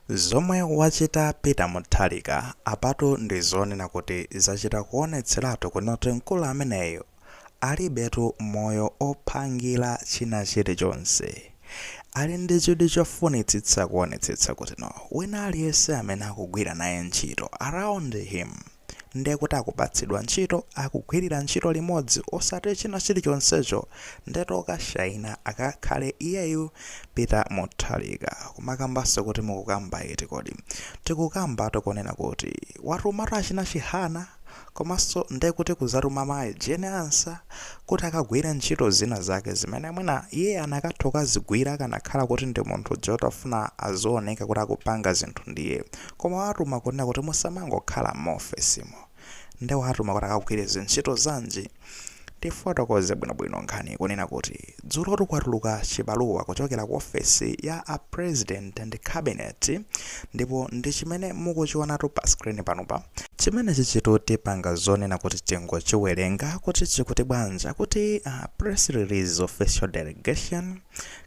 Zomwe wachita Peter Mutharika apatu ndi zonena kuti zachita kuonetseratu kutino mkulu ameneyo alibetu moyo ophangira china chilichonse. Ali ndi chidwi chofunitsitsa kuonetsetsa kutino wina aliyense amene akugwira naye ntchito around him. ndiye kuti akupatsidwa ntchito akugwirira ntchito limodzi osati china chilichonsecho ndiye toka shaina akakhala iyeyu peter Mutharika kumakambanso kuti mukukamba iti kodi tikukamba tokunena kuti watumatu achina Chihana komanso ndiye kuti kuzatuma mayi Jane Ansah kuti akagwire ntchito zina zake zimene mwina iye anakatha kukazigwira akanakhala kuti ndi munthu woti afuna azioneka kuti akupanga zinthu ndiye Koma wawatuma kunena kuti musamangokhala m'maofesimo. Nde wawatuma kuti akagwire zintchito zanji? Tifuna tifotokoze bwinobwino nkhaniyi kunena kuti dzulotu kwatuluka chibaluwa kuchokera ku ofesi ya a President and Cabinet ndipo ndi chimene mukuchionatu pa screen panopa. Chimenechichitu tipanga zonena kuti tingochiwerenga kuti chikuti bwanji, akuti, Press Release Official Delegation,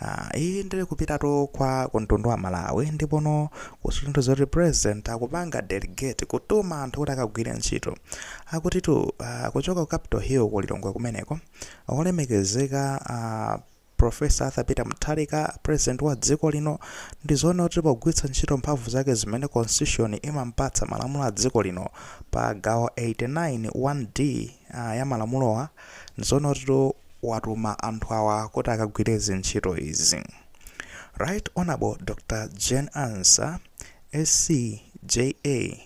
Ah, iyi iri kupitatu kwa kumtundu wa Malawi ndipono kusinthu zoti president akupanga delegate kutuma anthu kuti akagwire ntchito akutitu ah, kuchoka ku Capital Hill ku Lilongwe kumeneko olemekezeka ah, Professor Arthur Peter Mutharika president wa dziko lino ndi zonena kuti pogwiritsa ntchito mphamvu zake zimene constitution imampatsa malamulo a dziko lino pa gawo 89 1d ah, ya malamulowa ndi zonena kuti watuma anthu awa kuti akagwire zintchito izi. Right Honourable Dr Jane Ansah SC, JA,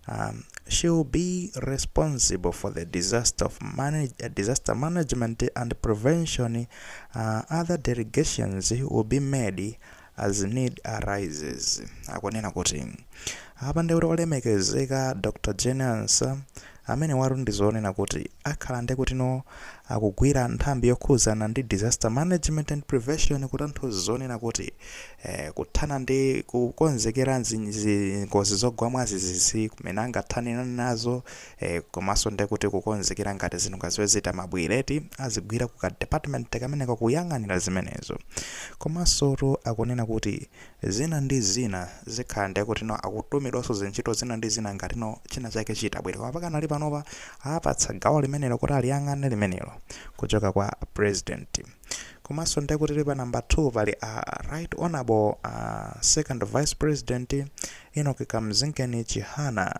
um, she will be responsible for the disaster of manage, uh, disaster management and prevention uh, other delegations will be made As need arises, akunena kuti apa nde kuti olemekezeka Dr Jane Ansah amenewatu ndi zonena kuti akhala nde kutino akugwira nthambi yokhuzana ndi Disaster Management and Preparation kutanthauza zonena kuti eh kuthana ndi kukonzekera zingozi zogwa mwazizizi mmene angathane nazo ee komaso ndekuti kukonzekera ngati zinthu ngati zimene zita mabwera eti azigwira kuka department kameneka kuyang'anira zimenezo komasotu akunena kuti zina ndi zina zikhala ndekutino akutumidwaso zintchito zina ndi zina ngati no china chake chitabwera koma pakanali panopa apatsa gawo limenelo kuti aliyang'ane limenelo kuchoka kwa president komaso ndekuti pa number 2 pali a right honorable a second vice president Enock Kamzingeni Chihana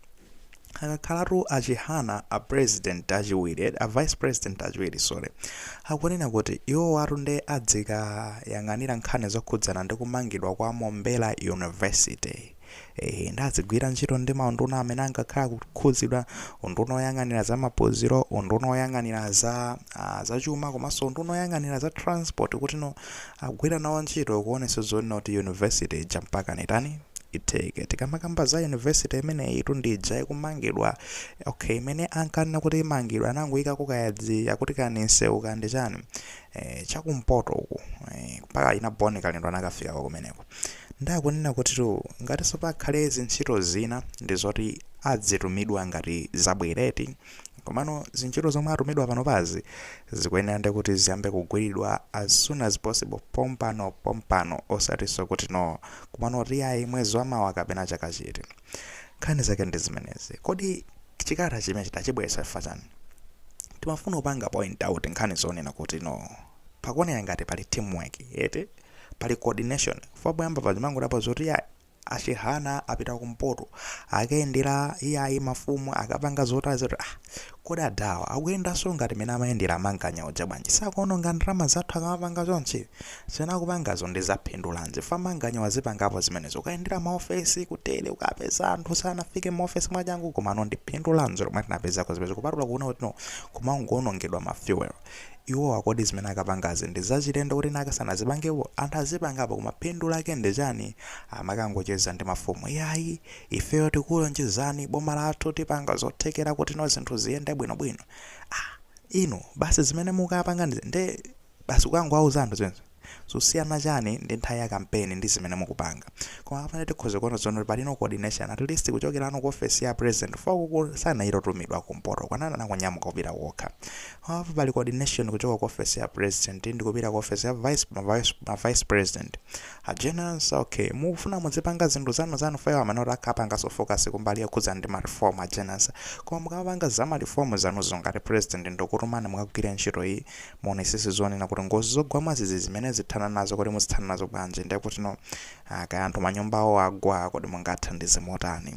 akakhalatu a Chihana a president achiwiri a vice president achiwiri sorry akunena kuti iwowatu nde adzikayang'anira nkhani zokhudzana ndi kumangidwa kwa Mombera University ehe nde azigwira ntchito ndi maunduna amene angakhale akukhudzidwa unduna oyang'anira za maphunziro unduna oyang'anira za uh, zachuma komanso unduna oyang'anira za transport kutino Agwira nawo ntchito kuonesa zonena kuti university ija mpakana itani? Itheke. Tikamakamba za university imeneyitu ndi ija ikumangidwa, ok imene ankanena kuti imangidwa anangoikako kaya dzi akuti kaya ndi msewu kaya ndi chani eh, chakumpoto uku eh, mpaka achina Bon Kalindo anakafikako kumeneko. Nde akunena kutitu ngatiso pakhale zintchito zina ndi zoti adzitumidwa ngati zabwere eti. Komano zintchito zomwe atumidwa panopazi zikuyenera nde kuti ziyambe kugwiridwa as soon as possible pompano pompano osatiso kuti no komano iyayi mwezi wamawa kapena chaka chiti. Nkhani zake ndi zimenezi. Kodi chikalata chimenechi tachibweretsa chifukwa chani? Timafuna kupanga point out nkhani zonena kuti no pakuoneka ngati pali team work eti? Pali coordination chifukwa poyamba paja umangodapo zoti ayi. a Chihana apita kumpoto akayendera iyayi mafumu akapanga zotaya zoti ah kodi adawa akuyendanso ngati mene amayendera a Manganya uja bwanji sakuononga ndalama zathu akamapanga chonchi zimene akupangazo ndi zaphindulanji fa a Manganya wazipangapo zimenezo kukayendera maofesi kutere kukapeza anthu sanafike maofesi mwachangu komano ndi phindu lanji lomwe tinapezako zimenezo kupatula kuona kuti no kumangoonongedwa ma fuel Iwowa kodi zimene akapangazi ndi zachilendo kuti naka sanazipangepo? Anthu azipangapo koma phindu lake ndi chani kumakangocheza ndi mafumu iyayi ifeyo tikulonjezani boma lathu tipanga zothekera kuti no zinthu ziyende bwino bwino ah inu basi zimene mukapanganizi nde basi kukangowauza anthu zimenezo? Zosiyana chani ndi nthawi ya campaign ndi zimene mukupanga. Koma apa nde tikhoza kuona zoona kuti pali no coordination at least kuchokera no ku office ya president chifukwa uku sanali otumidwa ku mpoto kuja anangonyamuka kupita okha. Koma apa pali coordination kuchoka ku office ya president ndi kupita ku office ya vice ma vice ma vice president. A Jane Ansah okay mukufuna mudzipanga zinthu zanu zanu fa iwo amanena zoti akapangaso focus kumbali yokhudzana ndi ma reform a Jane Ansah. Koma mukamapanga za ma reform zanuzo ngati president wakutumani mukagwire ntchito iyi Muonesese zonena kuti ngozi zogwa mwazizi zimenezi thana nazo kodi muzithana nazo bwanji nde kuti no ah, kaya anthu manyumba awo agwa kodi mungathandize motani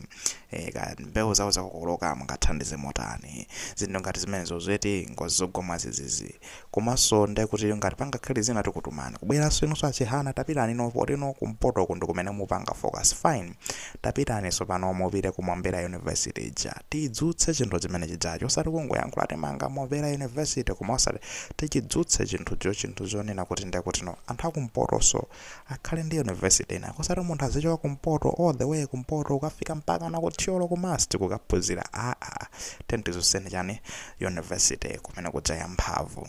e, kaya mbewu zawo zakokoloka mungathandize motani zinthu ngati zimenezozo eti ngozi zogwa mwazizizi komanso nde kuti ngati pangakhale zina tikutumani kubweranso inunso a Chihana tapitani no poti no kumpoto ko ndi kumene mupanga focus fine Tapitani tsopano mupite ku Mombera University ija. Tidzutse chinthu chimene chijacho. Osati kungoyankhula timanga Mombera University koma osati. Tichidzutse chinthucho chinthu chonena kuti ndiye kuti no. Anthu akumpotoso akhale ndi university inako. Osati munthu azichoka kumpoto all the way kumpoto kukafika mpaka na ku Thyolo ku MUST kukaphunzira. Aa. Tiyeni tidzutseni chani university kumene kuja ya mphamvu.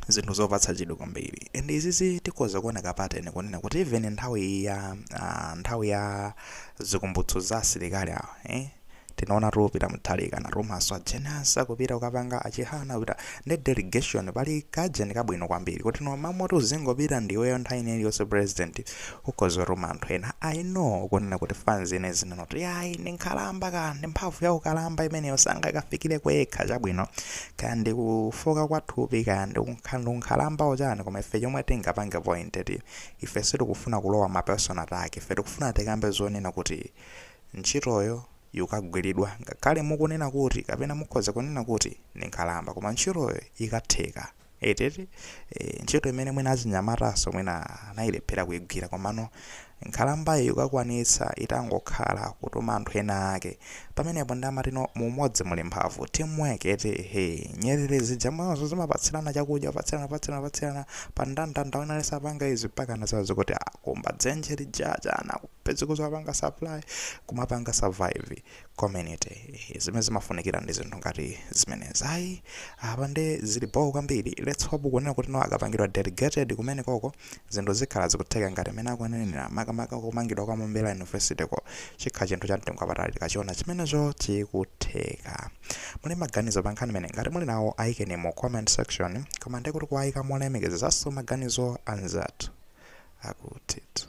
zinthu zopatsa chidwi kwambiri and izizo tikhoza kuona ka pattern kunena kuti even nthawi iyi ya ah, nthawi ya zikumbutso za asilikali awa eh? tinaona Peter Mutharika anatumanso a Jane Ansah kupita kukapanga achihana kupita ndi delegation pali kajeni kabwino kwambiri kuti no mmamoti uzingopita ndiweyo nthawi ina iliyonse president ukhoza kutuma anthu ena i know kunena kuti fans ina izinena kuti ayi ndi nkhalamba kaya ndi mphamvu ya ukalamba imeneyo sangakafikire okha chabwino kaya ndi kufooka kwa thupi kaya ndi kunkha- ndi ukalamba chani koma ife chomwe tingapange point eti ife sitikufuna kulowa ma personal attack ife tikufuna tikambe zonena kuti ntchitoyo ikugwiridwa ngakhale mukunena kuti kapena mukhoza kunena kuti ndi nkhalamba koma ntchitoyo ikutheka eti e, ntchito imene mwina achinyamatanso mwina anayilephera kuigwira komano Nkhalambayi ikukwanitsa itangokhala kutuma anthu ena ake. Pamenepo nde amati no mu umodzi muli mphamvu. Team work eti hee. Nyerere zija mumaonanso zimapatsirana chakudya kupatsirana kupatsirana kupatsirana pa ndandanda wina aliyense apanga izi mpakana muzaziwa kuti akumba dzenje lija chani akupezeka kuzapanga supply kumapanga survive. community. Zimene zimafunikira ndi zinthu ngati zimenezi. Ayi, apa nde zili bho kwambiri. Let's hope kunena kuti no akapangidwa delegated kumene koko zinthu zikhala zikutheka ngati mmene akunenera makamaka kumangidwa kwa Mombera University ko chikhala chinthu cha mtengo wapatali tikachiona chimenecho chikutheka. Muli maganizo pa nkhani imeneyi ngati muli nawo ayikeni mu comment section koma ndi kuti kuwayika molemekezanso maganizo anzathu akutitu.